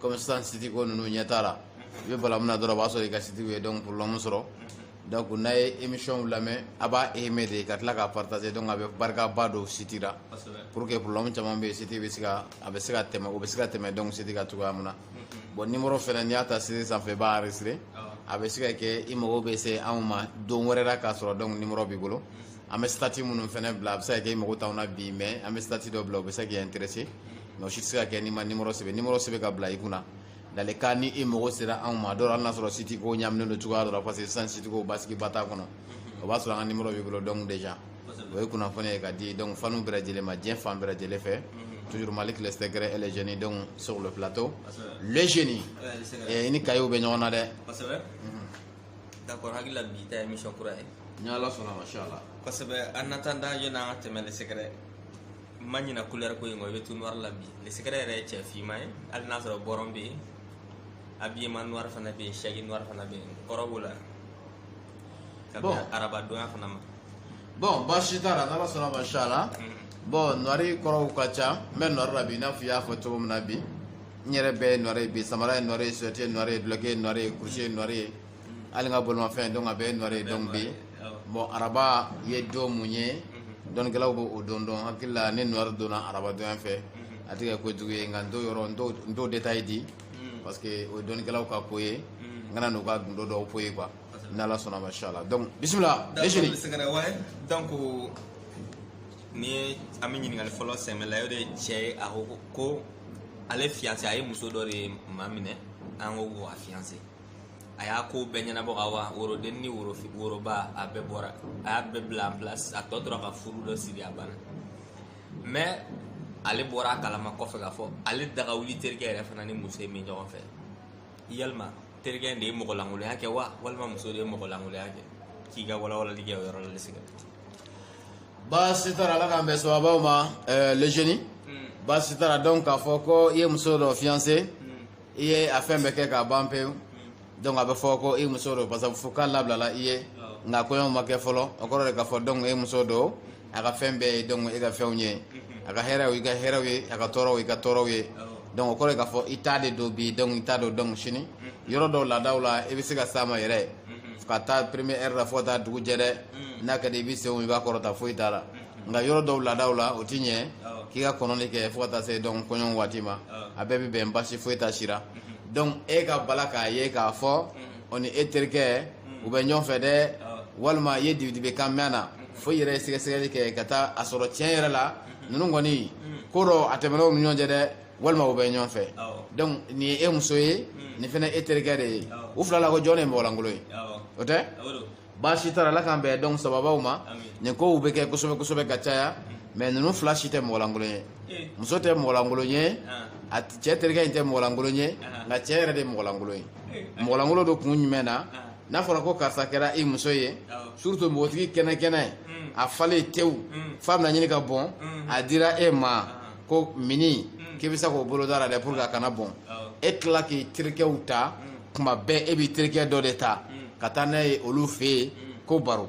comme sisan siti ko ninnu ɲɛ t'a la i bɛ bala min na dɔrɔn o b'a sɔrɔ i ka sitiw ye donc problème sɔrɔ donc n'a ye émission lamɛn a b'a aimer de ka tila k'a partager donc a bɛ barikaba don siti la pour que problème caman bɛ yen siti bɛ se ka a bɛ se ka tɛmɛ o bɛ se ka tɛmɛ donc siti ka cogoya min na bon numéro fɛnɛ n'i y'a ta siti sanfɛ i b'a enregistrer a bɛ se ka kɛ i mago bɛ se anw ma don wɛrɛ la k'a sɔrɔ donc numéro b'i bolo an bɛ statut minnu fɛnɛ bila a bɛ se ka kɛ i mago t'anw na bi mais an bɛ statut dɔ bila o bɛ se k'i intéresser mais si a bɛ se ka kɛ n'i ma nimɔrɔ sɛbɛn nimɔrɔ sɛbɛn ka bila i kunna lalekan ni e mago sera anw ma dɔw hali n'a sɔrɔ siti ko ɲaminen don cogoya dɔ la parce que sisan siti ko basigi ba t'a kɔnɔ o b'a sɔrɔ an ka nimɔrɔ b'i bolo donc déjà o ye kunnafoni ye ka di donc faniw bɛɛ lajɛlen ma diɲɛ fan bɛɛ lajɛlen fɛ toujours Maliki le secret et le jeune donc sur le plateau le jeune i ni kayew bɛ ɲɔgɔn na dɛ d'accord hakili la bi ta ye émission kura ye ni ala sɔnna ma sha Allah kosɛbɛ an na tan da yɛlɛ an ka tɛmɛ le secret ma ɲina kulɛri ko in kɔ i bɛ tout noir la bi le secret yɛrɛ ye cɛ finman ye hali n'a sɔrɔ bɔrɔn bɛ yen habillement noir fana bɛ yen sɛsi noir fana bɛ yen kɔrɔ b'o la ka bɛn arabadonya fana ma bon baasi t'a la n'ala sɔnna ma sha Allah bon noir kɔrɔw ka ca n bɛ noir la bi i n'a fɔ i y'a fɔ cogo min na bi n yɛrɛ bɛɛ ye noir ye bi samara ye noir ye sosɛti ye noir ye dulɔki ye noir ye kurusi ye noir ye hali n ka bolomafɛn donc a bɛɛ noir ye donc bi bon araba ye don mun ye dɔnkɛlaw bɛ o don dɔn hakili la ni noir donna arabadon fɛ a tɛ ko jugu ye nka n t'o détail di parce que o ye dɔnkɛlaw ka ko ye n kana n'u ka gundo dɔ fɔ yen quoi n' ala sɔnna ma sha Allah donc bisimila donc o ni ye an bɛ ɲininkali fɔlɔ sɛmɛ la o de ye cɛ ye a ko ko ale fiancée a ye muso dɔ de maminɛ an ko ko a fiancer a y'a ko bɛɛ ɲɛnabɔ ka wa worodenni ni woro woroba a bɛɛ bɔra a y'a bɛɛ bila en place a tɔ tora ka furu dɔ siri a banna mais ale bɔra a kalama kɔfɛ k'a fɔ ale daga wuli terikɛ yɛrɛ fana ni muso in bɛ ɲɔgɔn fɛ yalima terikɛ in de ye mɔgɔ lankolonya kɛ wa walima muso de ye mɔgɔ lankolonya kɛ k'i ka walawalali kɛ o yɔrɔ la secret baasi t'a la ala k'an bɛn sawaba ma eh, le jeune baasi t'a la donc k'a fɔ ko i ye muso dɔ fiancer i ye a fɛn bɛɛ kɛ k'a ban pewu donc a bɛ fɔ ko i muso don parce que fo k'a labilala i ye nka kɔɲɔ ma kɛ fɔlɔ o kɔrɔ de k'a fɔ donc e muso don a ka fɛn bɛɛ ye donc e ka fɛnw ye a ka hɛrɛw i ka hɛrɛw ye a ka tɔɔrɔw i ka tɔɔrɔw ye donc o kɔrɔ ye k'a fɔ i t'a de don bi donc i t'a don donc sini yɔrɔ dɔw laadaw la i bɛ se ka s'a ma yɛrɛ ka taa premier heure la fo ka taa dugu jɛ dɛ n'a ka di i ye senw i b'a kɔrɔta foyi t'a la nka yɔrɔ dɔw laadaw la o ti ɲɛ k'i ka kɔnɔni kɛ fo ka taa se dɔn kɔɲɔ waati ma a bɛɛ bɛ bɛn basi foyi t'a sira donc e ka bala k'a ye k'a fɔ o ni e terikɛ u bɛ ɲɔgɔn fɛ dɛ walima i ye dibidibi kan mɛn na fo i yɛrɛ ye sɛgɛsɛgɛli kɛ ka taa a sɔrɔ tiɲɛ yɛrɛ la ninnu kɔni ko dɔ a tɛmɛnen u ni ɲɔgɔn cɛ dɛ walima u bɛ ɲɔgɔn fɛ donc nin ye e muso ye nin fana e terikɛ de ye u fila la ko jɔn ye mɔgɔlankolon ye o tɛ baasi t'a la ala k'an bɛɛ dɔn sababaw ma nin kow bɛ kɛ kosɛbɛ kosɛbɛ ka caya mais ninnu fila si tɛ mɔgɔlankolon ye eh. muso tɛ mɔgɔlankolon ye ah. a cɛ terikɛ in tɛ mɔgɔlankolon ye ah. nka cɛ yɛrɛ de ye mɔgɔlankolon ye eh. mɔgɔlankolon don kun jumɛn na ah. n'a fɔra ko karisa kɛra i muso ye surtout npogotigi kɛnɛkɛnɛ hmm. a falen tewu hmm. f'a bɛna ɲini ka bɔn hmm. a dira e ma k'o minɛ k'i bɛ se k'o boloda la dɛ pour que a kana bɔn e tila k'i terikɛw ta kuma bɛɛ e b'i terikɛ dɔ de ta ka taa n'a ye olu fɛ yen ko baro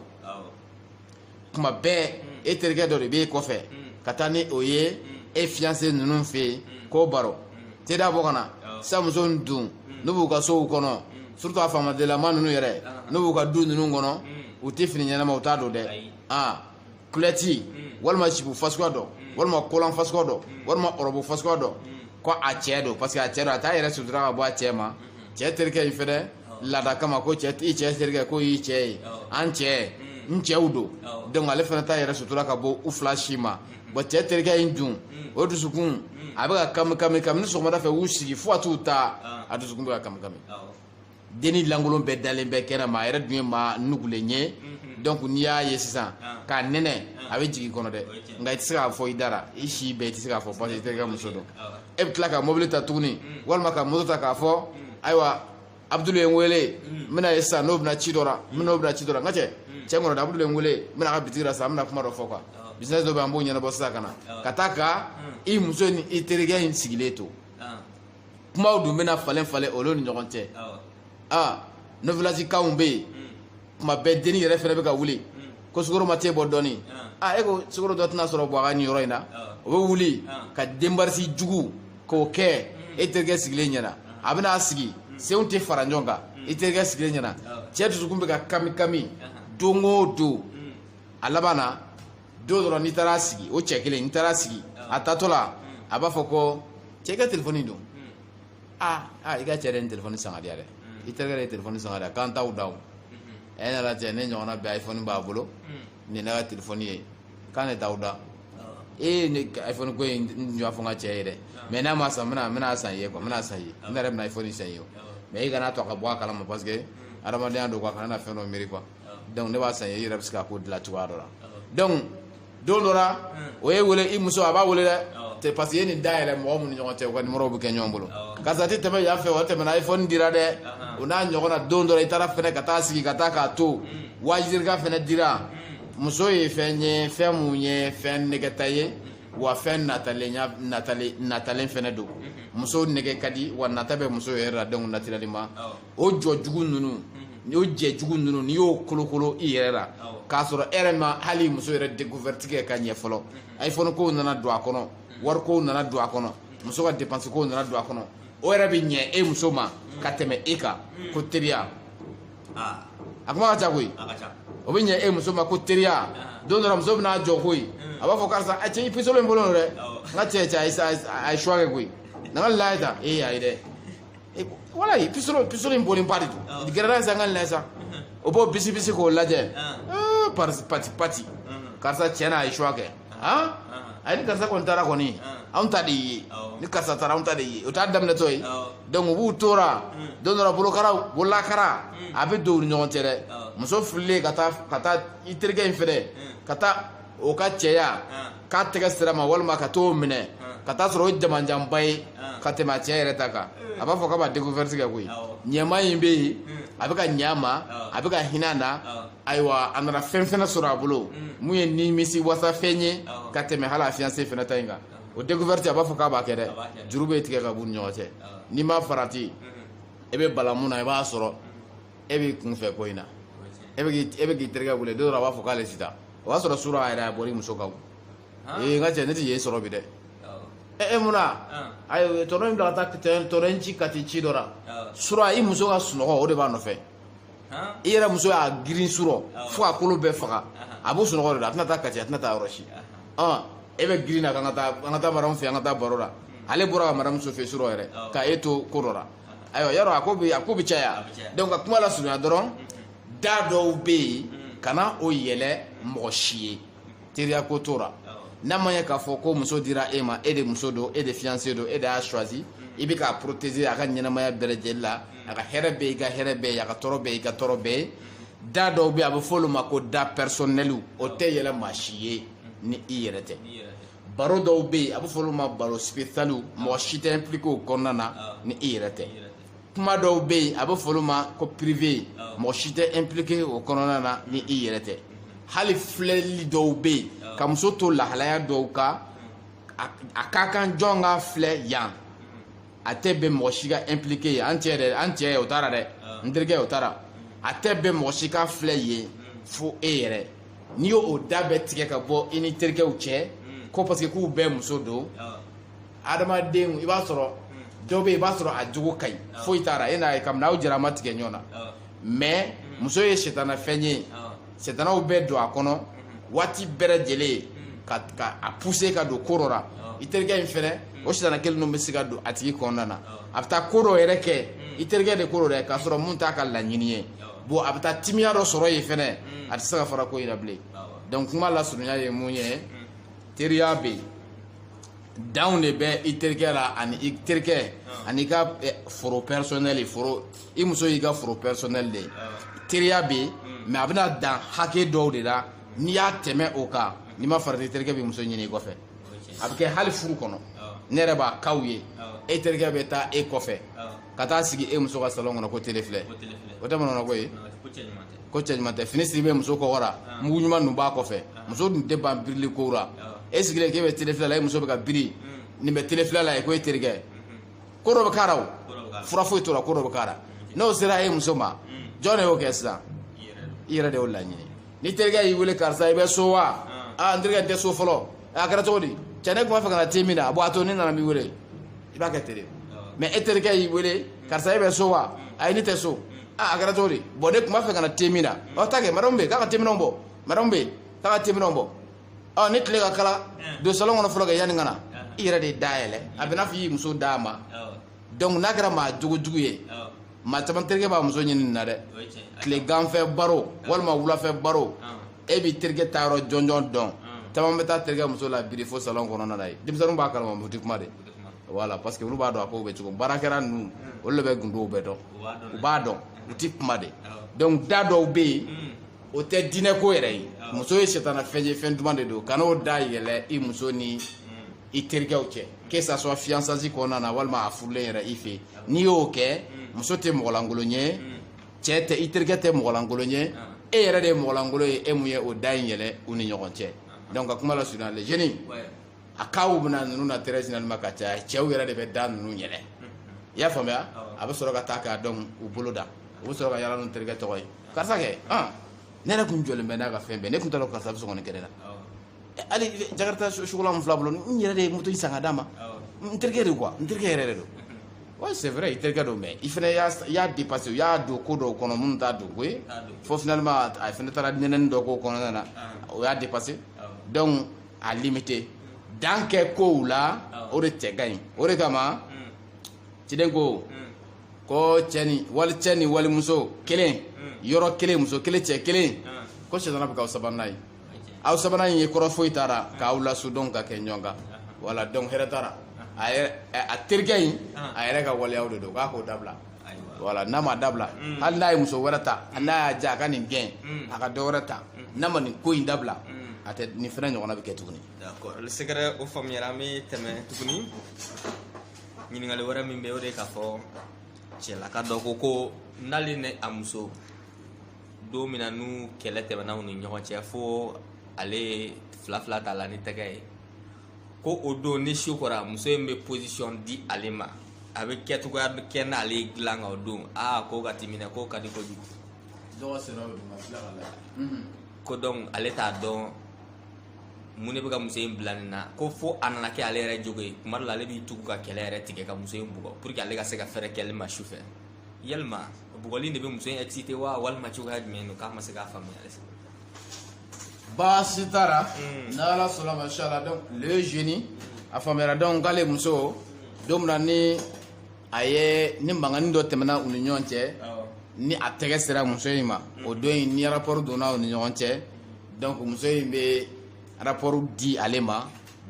kuma bɛɛ e terikɛ dɔ de b'e kɔfɛ ka taa ni o ye e fiyanse ninnu fɛ yen ko baro teda bɔ ka na sa muso in dun n'u b'u ka sow kɔnɔ surtout a faamadelama ninnu yɛrɛ n'u b'u ka du ninnu kɔnɔ u tɛ fini ɲɛnama u t'a don dɛ aa kulɔti walima zipu fasuguya dɔ walima kolan fasuguya dɔ walima ɔrɔbu fasuguya dɔ ko a cɛ don parce que a cɛ don a t'a yɛrɛ sutura ka bɔ a cɛ ma cɛ terikɛ in fɛnɛ laada kama ko cɛ i cɛ terikɛ k'o y'i cɛ ye an cɛ n cɛw don donc ale fana t'a yɛrɛ sutura ka bɔ u fila si ma bon cɛ terikɛ in dun o dusukun a bɛ ka kami kami kabini sɔgɔmada fɛ u sigi fo ka t'u ta a dusukun bɛ ka kami kami denni lankolon bɛɛ dalen bɛ kɛnɛ ma a yɛrɛ dun ye maa nugulen ye mhm. donc n'i y'a ye sisan ah. k'a nɛnɛ ah. a bɛ jigin kɔnɔ dɛ nka i tɛ se k'a fɔ i da ra i si bɛɛ i tɛ se k'a fɔ parce que i terikɛ muso don e bɛ tila ka mobili ta tuguni mm. walima ka moto ta k'a fɔ mm. ayiwa abudulu ye n wele mm. n bɛna ye sisan n'o bɛna ci dɔ la n bɛna o bɛna ci dɔ la n ka cɛ cɛ kɔnɔ abudulu ye n wele n bɛna ka bitigi la sisan n bɛna kuma dɔ fɔ quoi oh. business dɔ bɛ an b'o ɲɛnabɔ sisan ka na oh. ka taa ka i muso ni i terikɛ in sigilen to. kumaw dun bɛna falen falen olu ni ɲɔgɔn cɛ aa novelasikanw bɛ yen kuma bɛɛ denni yɛrɛ fɛnɛ bɛ ka wuli ko sukoro ma te bɔ dɔɔni a e ko sukoro dɔ tɛna sɔrɔ bɔ a ka nin yɔrɔ in na o bɛ wuli ka démarche jugu k'o kɛ e terikɛ sigilen ɲɛna a bɛna a sigi senw tɛ fara ɲɔgɔn kan i terikɛ sigilen ɲɛna cɛ dusukun bɛ ka kami kami don o don a laban na don dɔrɔn n'i taara sigi o cɛ kelen n'i taara sigi a taatɔ la a b'a fɔ ko cɛ i ka telefɔni don aa aa i ka cɛ de ye nin telefɔni san k'a di yan dɛ i terikɛ de ye telefɔni san k'a di yan k'an t'aw daw a ye ne lajɛ ne ɲɔgɔnna bɛɛ iphone b'a bolo nin ye ne ka telefɔni ye k'an de t'aw da ee ne ka iphone ko in n y'a fɔ n ka cɛ ye dɛ mais n'a ma san n bɛna n bɛna san i ye quoi n bɛna san i ye ne yɛrɛ bɛna iphone san i ye o mais i kana to a ka bɔ a kalama parce que hadamadenya don quoi a kana na fɛn dɔ miiri quoi donc ne b'a san i yɛrɛ bɛ se ka ko dilan cogoya dɔ la donc don dɔ la o ye wele i muso a b'a wele dɛ tɛ parce que i ye nin da yɛlɛ mɔgɔ minnu ɲɔgɔn cɛ u ka numéro bɛ kɛ ɲɔgɔn bolo karisa tɛ tɛmɛ yan fɛ o tɛmɛna iphone dira dɛ o n'a ɲɔgɔn na don dɔ la i taara fɛnɛ ka taa sigi ka taa k'a to waajirika fɛnɛ dira muso ye fɛn ye fɛn mun ye fɛn nɛgɛta ye wa fɛn natalen natalen natalen fɛnɛ don muso nɛgɛ ka di wa nata bɛ muso yɛrɛ la donc naturellement o jɛ jugu ninnu n y'o jɛ jugu ninnu n'i y'o kolokolo i yɛrɛ la k'a sɔrɔ e yɛrɛ ma hali muso yɛrɛ découverte kɛ ka ɲɛ fɔlɔ iphone kow nana don a kɔnɔ wari kow nana don a kɔnɔ muso ka dépense kow nana don a kɔnɔ o yɛrɛ bɛ ɲɛ e muso ma ka tɛmɛ e kan ko teriya a kuma ka ca koyi o bɛ ɲɛ e muso ma ko teriya don dɔ la muso bɛna jɔ koyi a b'a fɔ karisa a cɛ i pisolo in bolo dɛ n ka cɛ cɛ a ye choix kɛ koyi na n k'a lajɛ ta ee a ye dɛ Eh, wala ye pisoro pisoro in boli ba de don ah. gɛrɛla in san ka lɛ sa o b'o bisi bisi k'o lajɛ ah. eh, parisi pati pati ah. karisa tiɲɛ na a ye choix kɛ han a ye ni karisa kɔni taara kɔni anw ta de ye ni karisa taara anw ta de ye o t'a daminɛtɔ ye donc u b'u tora hmm. don dɔ la bolokara bololakara hmm. a bɛ don u ni ɲɔgɔn cɛ dɛ muso fililen ka taa ka taa i terikɛ in fɛnɛ hmm. ka taa o ka cɛya k'a tɛgɛ sira ma walima ka t'o minɛ ka t'a sɔrɔ o jamanjanba ye ka tɛmɛ a cɛ yɛrɛ ta kan a b'a fɔ k'a b'a découverte kɛ koyi ɲɛma in bɛ yen a bɛ ka ɲɛ a ma a bɛ ka hinɛ a na ayiwa a nana fɛn fɛnɛ sɔrɔ a bolo mun ye nimisi wasa fɛn ye ka tɛmɛ hali a fiancé fɛnɛ ta in kan o découverte a b'a fɔ k'a b'a kɛ dɛ juru bɛ tigɛ ka b'u ni ɲɔgɔn cɛ n'i ma farati i bɛ bala mun na i b'a sɔrɔ e b'i kun fɛ ko in na e bɛ k'i e bɛ k'i terikɛ wele don dɔ la a b'a fɔ k'ale tɛ taa o y'a sɔrɔ surɔ yɛrɛ a bɔra i muso kan ee n ka cɛ ne tɛ yen sɔrɔ bi dɛ e e mun na ayi tonton ye n bila ka taa tɛ- tonton ye n ci ka taa ci dɔ la surɔ i muso ka sunɔgɔ o de b'a nɔfɛ i yɛrɛ muso y'a girin surɔ fo a kolo bɛɛ faga a b'o sunɔgɔ de la a tɛna taa kati a tɛna taa yɔrɔ si ɔn e bɛ girin na k'an ka taa an ka taa madamu fɛ yen an ka taa baro la ale bɔra ka madamu so fɛ surɔ yɛrɛ ka e to ko dɔ la ayiwa yɔrɔ a ko bi a ko bi caya donc ka kuma lasurunya dɔrɔn da dɔw bɛ yen kana o yɛlɛ mɔgɔ si ye teriya ko t'o la n'a ma ɲɛ k'a fɔ ko muso dira e ma e de muso don e de fiancé don e de y'a choisi i bɛ k'a protéger a ka ɲɛnamaya bɛɛ lajɛlen la a ka hɛrɛ bɛɛ i ka hɛrɛ bɛɛ ye a ka tɔɔrɔ bɛɛ i ka tɔɔrɔ bɛɛ ye da dɔw bɛ yen a bɛ fɔ olu ma ko da personnel o tɛ yɛlɛ maa si ye ni i yɛrɛ tɛ. baro dɔw bɛ yen a bɛ fɔ olu ma baro spécialw mɔgɔ si tɛ impliqué o kɔnɔna na ni i yɛrɛ tɛ kuma dɔw bɛ yen a bɛ fɔ olu ma ko privé mɔgɔ si tɛ impliqué o kɔnɔna na ni i yɛrɛ tɛ hali filɛli dɔw bɛ yen ka muso to lahalaya dɔw kan a ka kan jɔn k'a filɛ yan a tɛ bɛn mɔgɔ si ka impliqué ye an cɛ dɛ an cɛ o taara dɛ ah. n terikɛ o taara a tɛ bɛn mɔgɔ si ka filɛ yen fo e yɛrɛ n'i y'o o da bɛɛ tigɛ ka bɔ i ni terikɛw cɛ hmm. ko parce que k'u bɛɛ muso don ah. adamaden i b'a sɔrɔ hmm. dɔ bɛ yen i b'a sɔrɔ a jogo ka ɲi ah. foyi t'a la e n'a ye kabini aw jɛra a ma tigɛ ɲɔgɔn na mais hmm. muso ye sitanafɛn ye sitanaw bɛ don a kɔnɔ waati bɛɛ lajɛlen ka ka a pousser ka don ko dɔ la i terikɛ in fɛnɛ o sitana kelen ninnu bɛ se ka don a tigi kɔnɔna na a bɛ taa ko dɔ yɛrɛ kɛ i terikɛ de ko dɔ dɛ k'a sɔrɔ mun t'a ka laɲini ye bon a bɛ taa timiya dɔ sɔrɔ yen fɛnɛ a tɛ se ka fara ko in na bilen donc kuma lasurunya ye mun ye teriya bɛ yen danw de bɛ i terikɛ la ani i terikɛ ani i ka eh, foro personnel foro i muso y'i ka foro personnel de ye teriya bɛ yen mais a bɛna dan hakɛ dɔw de la n'i y'a tɛmɛ o kan n'i ma farati terikɛ bɛ muso ɲini i kɔfɛ a bɛ kɛ hali furu kɔnɔ ne yɛrɛ b'a kow ye e terikɛ bɛ taa e kɔfɛ ka taa sigi e muso ka salon kɔnɔ ko tele filɛ o tɛ manamana ko ye ko cɛ ɲuman tɛ fini siri bɛ muso kɔgɔ la mugu ɲuman ninnu b'a kɔfɛ muso dun tɛ ban birili kow la e sigilen k'e bɛ tele filɛ la e muso bɛ ka biri nin bɛ tele filɛ la i ko e terikɛ ko dɔ bɛ k'a la o fura foyi t'o la ko dɔ bɛ k'a la n'o sera e muso ma jɔn de y'o kɛ sisan i yɛrɛ de y'o laɲini ni terikɛ y'i wele karisa i bɛ so wa aa n terikɛ n tɛ so fɔlɔ a kɛra cogo di cɛ ne tun b'a fɛ ka na te min na a bon a to ne nana n b'i wele i b'a kɛ ten de mais e terikɛ y'i wele karisa e bɛ so wa ayi ne tɛ so aa a kɛra cogo di bon ne tun b'a fɛ ka na te min na ɔ taa kɛ madamu bɛ yen k'a ka teminɛnw bɔ madamu bɛ yen k'a ka teminɛnw bɔ ɔ ni tile ka kalan don salon kɔnɔ fɔlɔ kɛ yanni ka na i yɛrɛ de ye da yɛlɛ a bɛ n'a fɔ i muso d'a ma donc n'a kɛra maa jogojugu ye maa caman terikɛ b'a muso ɲini nin na dɛ tileganfɛ baro walima wulafɛ baro e b'i terikɛ taayɔrɔ jɔnjɔn dɔn caman bɛ taa terikɛ muso la biri fo salon kɔnɔna na ye denmisɛnninw b'a kalama u ti kuma de voilà parce que olu b'a dɔn a kow bɛ cogo baarakɛla ninnu olu de bɛ gundow bɛɛ dɔn u b'a dɔn u ti kuma de donc da dɔw bɛ yen o tɛ diinɛ ko yɛrɛ ye muso ye sitana fɛn ye fɛn duman de don kan'o da yɛlɛ i muso ni i terikɛw cɛ que ça soit fiançance kɔnɔna na walima a furulen yɛrɛ i fɛ n'i y'o kɛ muso tɛ mɔgɔlankolon ye cɛ tɛ i terikɛ tɛ mɔgɔlankolon ye e yɛrɛ de ye mɔgɔlankolon ye e mun ye o da in yɛlɛ u ni ɲɔgɔn cɛ donc ka kuma lasurunya les jeunes a kow bɛna ninnu na tɛrɛ sinani ma ka caya cɛw yɛrɛ de bɛ da ninnu yɛlɛ i y'a faamuya a bɛ sɔrɔ ka taa k'a dɔn u bolo da u bɛ sɔrɔ ka yala n'u terikɛ tɔgɔ ye karisa kɛ ne yɛrɛ tun jɔlen bɛ n'a ka fɛn bɛɛ ne tun t'a dɔn karisa bɛ sɔn ka nin kɛ ne la hali jakarita sugulan min fil'a bolo n yɛrɛ de ye moto in san ka d'a ma n terikɛ de quoi n terikɛ yɛrɛ de don wa c'est vrai i terikɛ don mais i fana y'a dépassé u y'a don ko dɔw kɔnɔ minnu t'a don ko ye fo finalement a fana taara nɛnɛni dɔ k'o kɔnɔna na o y'a dépassé donc a limite dan kɛ kow la o de cɛ ka ɲi o de kama ciden ko ko cɛ ni wali cɛ ni walimuso kɛlen yɔrɔ kelen muso kelen cɛ kelen ko sitana bɛ k'aw sabanan ye aw sabanan in ye kɔrɔ foyi t'a la k'aw lasu dɔrɔn ka kɛ ɲɔgɔn kan voilà donc hɛrɛ t'a la a terikɛ in a yɛrɛ ka waleyaw de don k'a k'o dabila voilà n'a ma dabila mm. hali n'a ye muso wɛrɛ ta mm. n'a y'a diya a ka nin gɛn mm. a ka dɔ wɛrɛ ta n'a ma nin ko in dabila a tɛ nin fana ɲɔgɔnna bɛ kɛ tuguni d'accord sɛgɛrɛ o faamuyara an bɛ tɛmɛ tuguni ɲininkali wɛrɛ min bɛ o de k'a fɔ cɛlaka dɔ ko ko n'ale ni a muso don min na n'u kɛlɛ tɛmɛna u ni ɲɔgɔn cɛ fo ale ye fila fila t'a la ni tɛgɛ ye ko o don ni su kora muso in bɛ position di ale ma a bɛ kɛ cogoya bɛɛ kɛ n'ale ye dilan kan o don aa ko ka timinɛ ko ka di kojugu dɔgɔ sera o ma tila ka lajɛ ko donc ale t'a dɔn mun de bɛ ka muso in bila nin na ko fo a nana kɛ ale yɛrɛ jogo ye tuma dɔ la ale b'i tugu ka kɛlɛ yɛrɛ tigɛ ka muso in bugɔ pour que ale ka se ka fɛɛrɛ kɛli ma su fɛ yalima bugɔli de bɛ muso in excité wa walima cogoya jumɛn don k'a ma se k'a faamuya halisa baasi t'a la mm. n'ala sɔnna ma inshallah donc le jeune a faamuyara donc k'ale muso don min na ni a ye ni mankanni dɔ tɛmɛna u ni ɲɔgɔn cɛ ni a tɛgɛ sera muso in ma o don in ni rapport donna u ni ɲɔgɔn cɛ donc muso in bɛ rapport di ale ma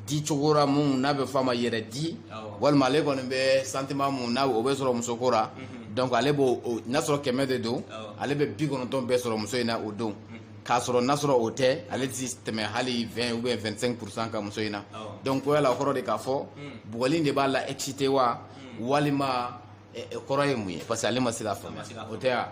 di cogo la mun n'a bɛ fɔ a ma yɛrɛ di walima ale kɔni bɛ sentiment mun n'a o bɛ sɔrɔ musoko la mhm. donc ale b'o n'a sɔrɔ kɛmɛ de don ale bɛ bi kɔnɔntɔn bɛɛ sɔrɔ muso in na o don. k'a sɔrɔ n'a sɔrɔ o tɛ ale tɛ tɛmɛ hali 20 ou bien 25 pourcent kan muso in na donc ko yala o kɔrɔ de k'a fɔ hmm. bugɔli de b'a la excité wa hmm. walima eh, eh, kɔrɔ ye mun ye parce que ale ma se k'a faamuya o tɛ ya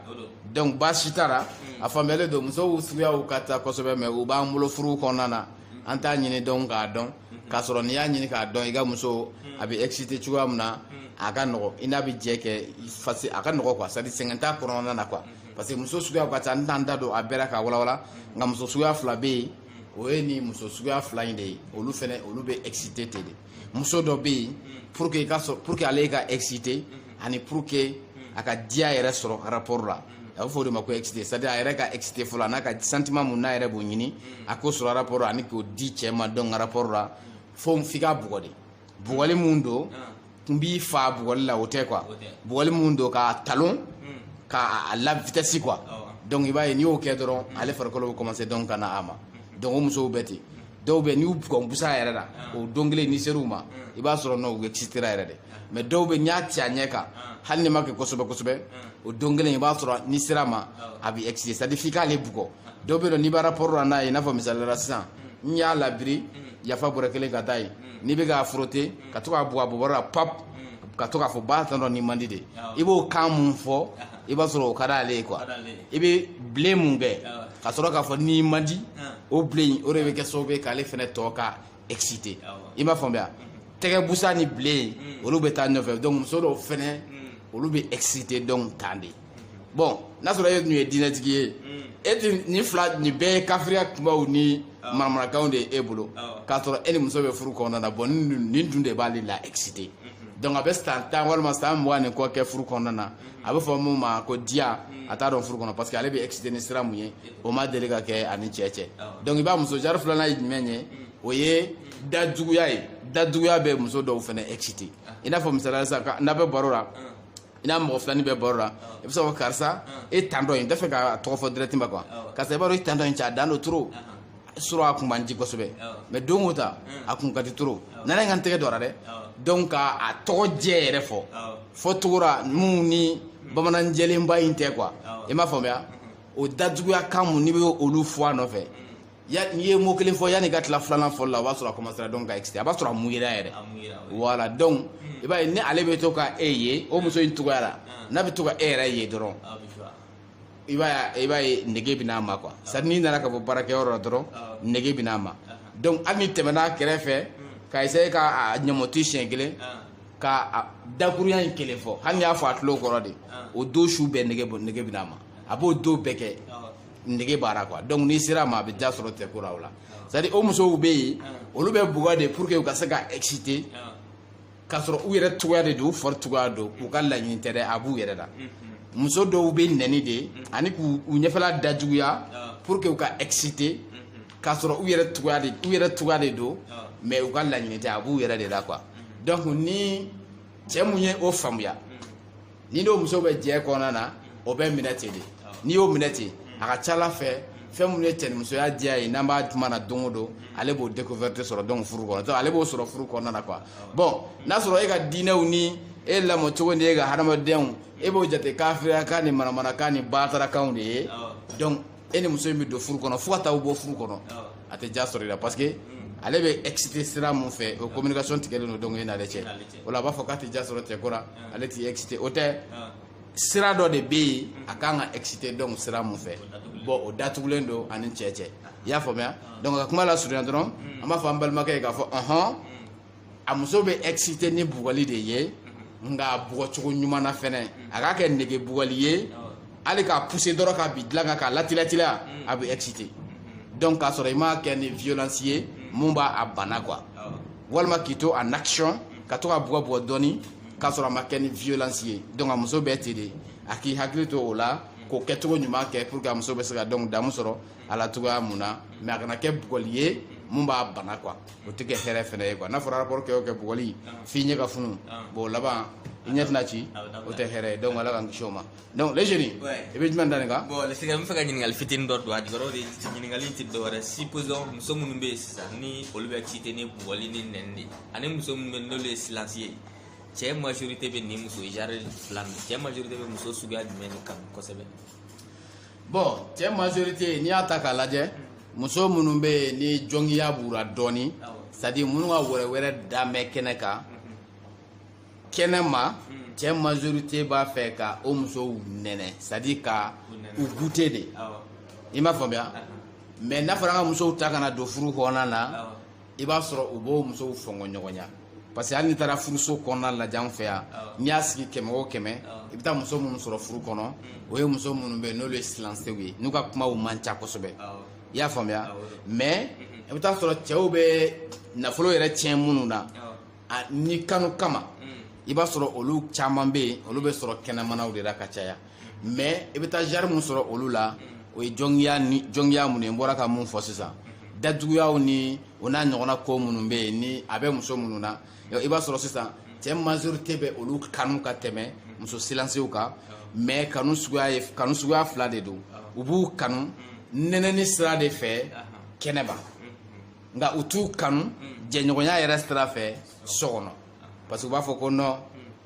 donc baasi t'a la hmm. a faamuyalen don musow suguyaw ka ca kosɛbɛ mais u b'an bolo furuw kɔnɔna na an t'a ɲini dɔrɔn k'a dɔn k'a sɔrɔ n'i y'a ɲini k'a dɔn i ka muso a bɛ excité cogoya min na a ka nɔgɔ i n'a bɛ jɛ kɛ a ka nɔgɔ quoi c'est à dire sɛgɛn t'a kɔnɔna na quoi parce que muso suguya ka ca n t'an da don a bɛɛ la ka walawala nka muso suguya fila bɛ yen o ye nin muso suguya fila in de ye olu fɛnɛ olu bɛ excité ten de muso dɔ bɛ yen pour que i k'a sɔrɔ pour que ale ka excité ani pour que a ka diya yɛrɛ sɔrɔ rapport la a bɛ fɔ o de ma ko excité c'est à dire a yɛrɛ ka excité fɔlɔ a n'a ka sentiment mun n'a yɛrɛ b'o ɲini a k'o sɔrɔ rapport la ani k'o di cɛ ma donc rapport la fo f'i k'a bugɔ de bugɔli mun don n b'i fa bugɔli la o tɛ quoi bugɔli mun don ka talon hmm. k'a la vitesse quoi donc i b'a ye n'i y'o kɛ dɔrɔn hmm. ale farikolo bɛ commencer donc ka na a ma hmm. donc o musow bɛ ten dɔw bɛ n'i y'u bugɔ ni busa yɛrɛ la o don kelen n'i ser'u ma i b'a sɔrɔ non u excitera yɛrɛ de mais dɔw bɛ n'i y'a ci a ɲɛ kan hali n'a ma kɛ kosɛbɛ kosɛbɛ o don kelen i b'a sɔrɔ n'i ser'a ma a bɛ exciter c'est à dire f'i k'ale bugɔ dɔw bɛ yen nɔ n'i bɛ rapport la n'a ye i n'a fɔ misali la sisan n'i y'a labiri yafa bɔrɛ kelen ka taa yen n'i bɛ k'a frotter ka to k'a bugɔ a bobara la pap ka to k'a fɔ ba tantɔ nin man di de i b'o kan mun fɔ i b'a sɔrɔ o ka d'ale ye quoi i bɛ bilen mun kɛ ka sɔrɔ k'a fɔ nin man di o bilen o de bɛ kɛ sababu ye k'ale fɛnɛ to ka excité i m'a faamuya tɛgɛ busa ni bilen olu bɛ taa ɲɔgɔn fɛ donc muso dɔw fɛnɛ olu bɛ excité donc tan de bon n'a sɔrɔ e tun ye diinɛtigi ye e tun nin fila nin bɛɛ ye kafiriya kumaw ni manamanakanw de ye e bolo k'a sɔrɔ e ni muso bɛ furu kɔnɔna na bon nin dun de b'ale la excité donc a bɛ san tan walima san mugan ni kɔ kɛ furu kɔnɔna na a bɛ fɔ mun ma ko diya a t'a dɔn furu kɔnɔ parce que ale bɛ excité ni sira mun ye o ma deli ka kɛ a ni cɛ cɛ donc i b'a muso jari filanan ye jumɛn ye o ye dajuguya ye dajuguya bɛ muso dɔw fana excité i n'a fɔ misali la sisan n'a bɛ baro la i n'a mɔgɔ filanin bɛ baro la i bɛ se ko karisa e tantɔ in n t'a fɛ k'a tɔgɔ fɔ directement quoi karisa i b'a dɔn i tantɔ in cɛ a dan don trop sɔrɔ a kun man di kosɛbɛ mais don o ta a kun ka di trop na na n ka n tɛgɛ don a ra dɛ donc ka a tɔgɔ jɛ yɛrɛ fɔ fɔ togora minnu ni bamanan jɛlenba in tɛ quoi i m'a faamuya o dajuguya kan mun n'i bɛ olu fɔ a nɔfɛ ya n'i ye mot kelen fɔ yann'i ka tila filanan fɔli la o b'a sɔrɔ a commencera donc ka excité a b'a sɔrɔ a mouillera yɛrɛ voilà donc i b'a ye ni ale bɛ to ka e ye o muso in cogoya la n'a bɛ to ka e yɛrɛ ye dɔrɔn i b'a ye i b'a ye nege bɛ n'a ma quoi c'est n'i nana ka bɔ baarakɛyɔrɔ la dɔrɔn nege bɛ n'a ma donc hali n'i tɛmɛna a kɛrɛfɛ ka essayer ka a ɲɔmɔti siɲɛ kelen ka dakuruɲa in kelen fɔ hali n'i y'a fɔ a tulo kɔrɔ de o don su bɛɛ nege nege bɛ n'a ma a b'o don bɛɛ kɛ. nege b'a ra quoi donc n'i ser'a ma a bɛ diya sɔrɔ cɛko la o la c'est à dire o musow bɛ yen olu bɛ bugɔ de pour que u ka se ka exciter k'a sɔrɔ u yɛrɛ cogoya de don u fari cogoya don k'u ka laɲini tɛ dɛ a b'u yɛrɛ la muso dɔw bɛ nɛni de ani k'u u ɲɛfɛla dajuguya pour que u ka exciter k'a sɔrɔ u yɛrɛ cogoya de u yɛrɛ cogoya de don mais u ka laɲini tɛ a b'u yɛrɛ de la quoi donc ni cɛ mun ye o faamuya n'i n'o muso bɛ jɛ kɔnɔna na o bɛ minɛ ten de n'i y'o minɛ ten a ka ca a la fɛn fɛn minnu ye cɛnimusoya diya ye n'an b'a tuma na don o don ale b'o découverte sɔrɔ donc furu kɔnɔ donc ale b'o sɔrɔ furu kɔnɔna na quoi bon n'a sɔrɔ e ka diinɛw ni e lamɔ cogo ni e ka hadamadenyaw e b'o jate kafiriyakan ni manamanakan ni baatarakanw de ye donc e ni muso in bɛ don furu kɔnɔ fo ka taa bɔ furu kɔnɔ a tɛ ja sɔrɔ i la parce que ale bɛ excité sira mun fɛ o communication tigɛlen don donc e n'ale cɛ o la a b'a fɔ k'a tɛ ja sɔrɔ cɛ ko la ale tɛ excité o tɛ sira dɔ de bɛ yen a kan ka excité donc sira mun fɛ bon o datugulen don a ni cɛ cɛ i y'a faamuya donc ka kuma lasurunya dɔrɔn an b'a fɔ an balimakɛ ye k'a fɔ ɔhɔn a muso bɛ excité ni bugɔli de ye nka a bugɔcogo ɲuman na fɛnɛ a k'a kɛ nege bugɔli ye hali k'a pousser dɔrɔn k'a bin dilan kan k'a latilatila a bɛ excité donc k'a sɔrɔ i m'a kɛ ni violence ye mun b'a bana quoi walima k'i to en action ka to k'a bugɔ bugɔ dɔɔni k'a sɔrɔ a ma kɛ ni violence ye donc a muso bɛ ten de a k'i hakili to o la k'o kɛcogo ɲuman kɛ pour que a muso bɛ se ka donc damu sɔrɔ a la cogoya mun na mais a kana kɛ bugɔli ye mun b'a bana quoi o tɛ kɛ hɛrɛ fana ye quoi n'a fɔra rapport kɛ o kɛ bugɔli f'i ɲɛ ka funu bon o laban i ɲɛ bɛna ci o tɛ hɛrɛ ye donc Ala k'an kisi o ma donc le jeune i bɛ jumɛn da nin kan bon le sika n b'a fɛ ka ɲininkali fitinin dɔ don a jɔyɔrɔ de ɲininkali in tɛ dɔwɛrɛ supposons muso minnu bɛ yen sisan ni olu bɛ excité ni bugɔli ni nɛni de ani muso minnu bɛ yen n'olu ye silence ye cɛ majorité bɛ nin muso genre fila nin cɛ majorité bɛ muso suguya jumɛn de kanu kosɛbɛ bon cɛ majorité n'i y'a ta k'a lajɛ muso minnu bɛ yen ni jɔngiya b'u ra dɔɔni c'est-à-dire minnu ka wɛrɛwɛrɛ dan bɛ kɛnɛ kan kɛnɛma hmm. cɛ majorité b'a fɛ ka o musow nɛnɛ c'est-à-dire ka u goûter de i m'a faamuya mais n'a fɔra an ka musow ta ka na don furu kɔnɔna na i b'a sɔrɔ u b'o musow fɔngɔ ɲɔgɔnya parce que hali n'i taara furuso kɔnɔna lajɛ an fɛ yan n'i y'a sigi kɛmɛ o kɛmɛ i bɛ taa muso minnu sɔrɔ furu kɔnɔ o ye muso minnu bɛ yen n'olu ye silansew ye n'u ka kumaw man ca kosɛbɛ i y'a faamuya mais i bɛ taa sɔrɔ cɛw bɛ nafolo yɛrɛ tiɲɛ minnu na ani kanu kama i b'a sɔrɔ olu caman bɛ yen olu bɛ sɔrɔ kɛnɛmanaw de la ka caya mais i bɛ taa genre min sɔrɔ olu la o ye jɔngiya ni jɔngiya minnu ye n bɔra ka mun fɔ sisan dajuguyaw ni o n'a ɲɔgɔnna ko minnu bɛ yen ni a bɛ muso minnu na i b'a sɔrɔ sisan cɛ majorité bɛ olu kanu ka tɛmɛ muso silansew kan mais kanu suguya ye kanu suguya fila de don u b'u kanu nɛnɛni sira de fɛ kɛnɛma nka u t'u kanu mm. jɛɲɔgɔnya yɛrɛ sira fɛ so kɔnɔ parce que u b'a fɔ ko non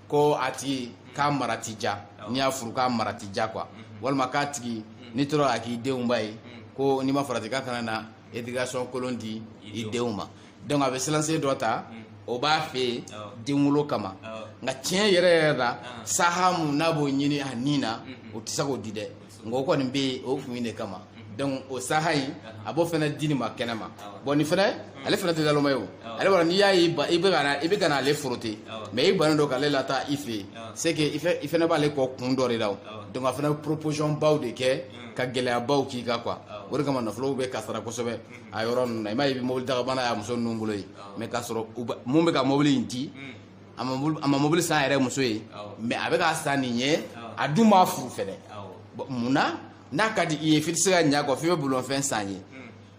ko a tigi k'a mara ti ja n'i y'a furu k'a mara ti ja quoi mm-hmm. walima k'a tigi mm. n'i tora a k'i denw ba ye mm. ko n'i ma farati k'a kana na éducation kolon di i denw ma donc a bɛ silansen dɔ ta o b'a fɛ yen denwolo kama nka tiɲɛ yɛrɛ yɛrɛ la saha mun n'a b'o ɲini a ni na mm-hmm. o tɛ se k'o di dɛ nka o kɔni bɛ yen o kun de kama donc o saha in a b'o fana di nin ma kɛnɛ ma bon nin fana ale fana tɛ naloma ye o ale b'a n'i y'a ye i bɛ ka i bɛ ka n'ale forote mais i bannen don k'ale lataa i fɛ yen c'est que i fana b'ale kɔ kun dɔ de la o donc a fana bɛ proposition baw de kɛ ka gɛlɛyabaw k'i kan quoi o de kama nafolow bɛ kasara kosɛbɛ a yɔrɔ ninnu na i m'a ye i bɛ mobili dakabana y'a muso ninnu bolo yen mais k'a sɔrɔ min bɛ ka mobili in di a ma mobili san a yɛrɛ muso ye mais a bɛ k'a san nin ye a dun m'a furu fɛnɛ mun na n'a ka di i ye f'i tɛ se ka ɲa a kɔ f'i bɛ bolifɛn san a ye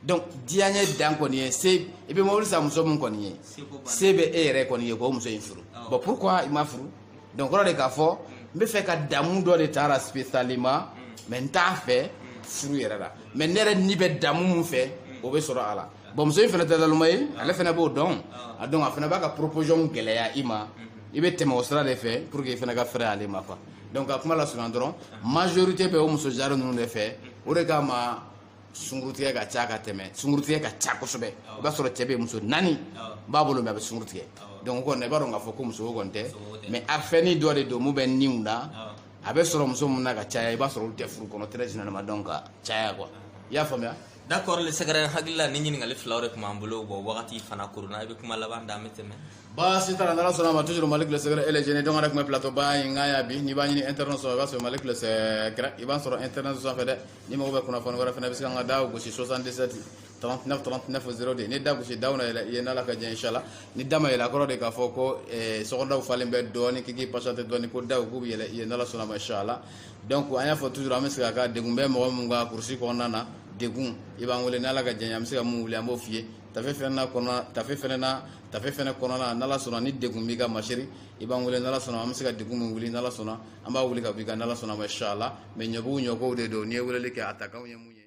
donc diyaɲɛ dan kɔni ye se i bɛ mobili san muso min kɔni ye se bɛ e yɛrɛ kɔni ye k'o muso in furu bon pourquoi i m'a furu donc kɔrɔ de k'a fɔ n b'a fɛ ka damu dɔ de ta a la spécialement mais n t'a fɛ furu yɛrɛ la mais ne yɛrɛ ni bɛ damu min fɛ o bɛ sɔrɔ a la bon muso in fana tɛ naloma ye ale fana b'o dɔn a dɔn a fana b'a ka proposition gɛlɛya i ma i bɛ tɛmɛ o sira de fɛ pour que i fana ka fɛrɛ ale ma quoi donc ka kuma lasurunya dɔrɔn majorité bɛ o muso genre ninnu de fɛ o de kama sungurutigɛ ka ca ka tɛmɛ sungurutigɛ ka ca kosɛbɛ i b'a sɔrɔ cɛ bɛ muso naani b'a bolo mais a bɛ sungurutigɛ donc o kɔni i b'a dɔn k'a fɔ ko musoko kɔni tɛ mais a fɛn nin dɔ de don min bɛ niw la a bɛ sɔrɔ muso minnu na ka caya i b'a sɔrɔ olu tɛ furu kɔnɔ très généralement donc ka caya quoi i y'a faamuya d'accord le secret hakilila ni ɲininkali filaw de tun b'an bolo bon wagati fana kɔrɔla i bɛ kuma laban da an bɛ tɛmɛ baasi t'a la n'ala sɔnna a ma toujours malick le secret ele jene dɔngɔrɛ tun bɛ plateau ba in kan yan bi n'i b'a ɲini internet sɔrɔ i b'a sɔrɔ malick le secret i b'a sɔrɔ internet sanfɛ dɛ n'i mago bɛ kunnafoni wɛrɛ fana bɛ se ka n ka da gosi 77 39 39 02 n'i da gosi daw na yɛlɛ i ye n'ala ka jɛ inshallah ni da ma yɛlɛ a kɔrɔ de k'a fɔ ko sɔgɔdaw falen bɛ dɔɔni k'i k'i patienter dɔɔni ko daw k'u bɛ yɛlɛ i ye n'ala sɔnna a ma inshallah donc an y'a fɔ toujours an bɛ se ka ka degun bɛ mɔgɔ min ka kurusi kɔnɔna na degun i b'an wele n'ala ka jɛn an bɛ se ka min wuli an b'o f'i ye tafe fɛnɛ na kɔnɔna tafe fɛnɛ na tafe fɛnɛ kɔnɔna n'ala sɔnna ni degun b'i ka masiri i b'an wele n'ala sɔnna an bɛ se ka degun min wuli n'ala sɔnna an b'a wuli ka b'i kan n'ala sɔnna a ma inshallah mais ɲɔbugu ɲɔkow de don n'i ye weleli kɛ a takanw ye mun ye